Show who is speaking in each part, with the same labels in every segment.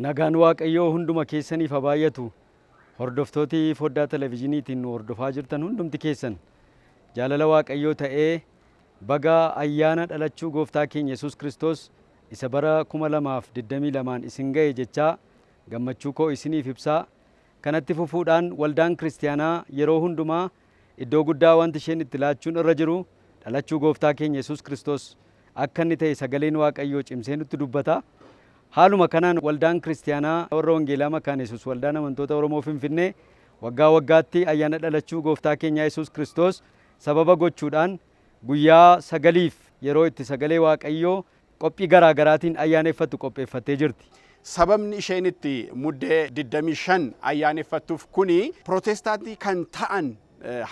Speaker 1: Nagaan Waaqayyoo hunduma keessaniif haa baay'atu. Hordoftooti foddaa televezyiiniitiin nu hordofaa jirtan hundumti keessan jaalala Waaqayyoo ta'ee baga ayyaana dhalachuu gooftaa keenya Yesuus Kiristoos isa bara 2022n isin ga'e jechaa gammachuu koo isiniif ibsaa. Kanatti fufuudhaan waldaan kiristiyaanaa yeroo hundumaa Iddoo guddaa wanti isheen itti laachuun irra jiru dhalachuu Gooftaa keenya Yesuus Kiristoos akka inni ta'e sagaleen Waaqayyoo cimsee nutti dubbata. Haaluma kanaan Waldaan Kiristiyaanaa Warra Wangeelaa Makaana Yesuus Waldaan Amantoota Oromoo Finfinnee waggaa waggaatti ayyaana dhalachuu Gooftaa keenyaa Yesuus Kiristoos sababa gochuudhaan guyyaa sagaliif yeroo itti sagalee Waaqayyoo qophii garaa garaatiin ayyaaneffattu qopheeffattee jirti. Sababni isheen
Speaker 2: itti Muddee 25 ayyaaneffattuuf kuni Pirootestaantii kan ta'an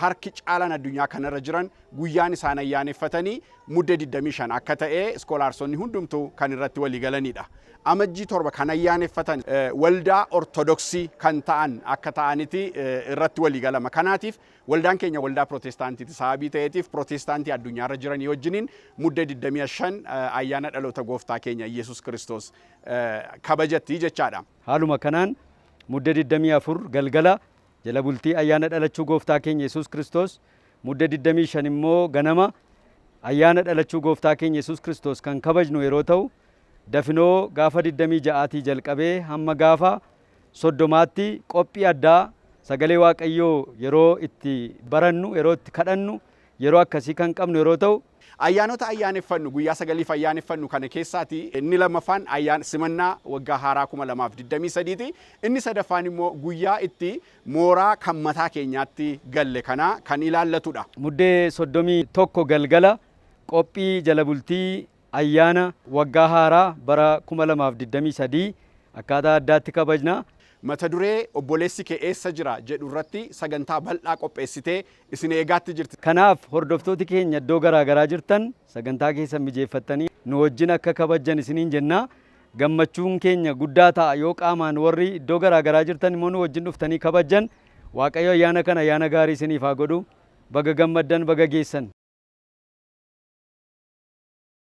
Speaker 2: harki caalaan addunyaa kanarra jiran guyyaan isaan ayyaaneffatanii Muddee 25 akka ta'e iskoolaarsonni hundumtuu kan irratti walii galanidha. Amajjii 7 kan ayyaaneffatan waldaa Ortodoksii kan ta'an akka ta'aniti irratti walii galama. Kanaatiif Waldaan keenya waldaa Pirootestaantiiti. Sababii ta'eetiif Pirootestaantii addunyaarra jiranii wajjiniin Muddee 25 ayyaana dhaloota Gooftaa keenya Iyyesuus Kiristoos kabajatti jechaadha. Haaluma kanaan
Speaker 1: Mudde 24 galgala jala bultii ayyaana dhalachuu Gooftaa keenya Yesuus Kiristoos, Mudde 25 immoo ganama ayyaana dhalachuu Gooftaa keenya Yesuus Kiristoos kan kabajnu yeroo ta'u, dafinoo gaafa 26tii jalqabee hamma gaafa soddomaatti qophii addaa sagalee Waaqayyoo yeroo itti barannu, yeroo itti kadhannu, yeroo akkasii kan qabnu yeroo ta'u, Ayyaanota ayyaaneffannu,
Speaker 2: guyyaa sagaliif ayyaaneffannu kana keessaati inni lammaffaan ayyaan simannaa waggaa haaraa 2023 ti. Inni sadaffaan immoo guyyaa itti mooraa kan mataa keenyaatti galle kana kan ilaallatu dha. Muddee
Speaker 1: 31 galgala qophii jala bultii Ayyaana waggaa haaraa bara 2023 akkaataa addaatti kabajna. Mata duree
Speaker 2: Obboleessi kee eessa jira? jedhu irratti sagantaa bal'aa qopheessitee isin eegaatti jirti. Kanaaf hordoftooti
Speaker 1: keenya iddoo garaa garaa jirtan sagantaa keessan mijeeffattanii nu wajjin akka kabajjan isiniin jenna. Gammachuun keenya guddaa ta'a yoo qaamaan warri iddoo garaa garaa jirtan immoo nu wajjin dhuftanii kabajjan. Waaqayyo ayyaana kana ayyaana gaarii isiniif haa godhu. Baga gammaddan, baga geessan!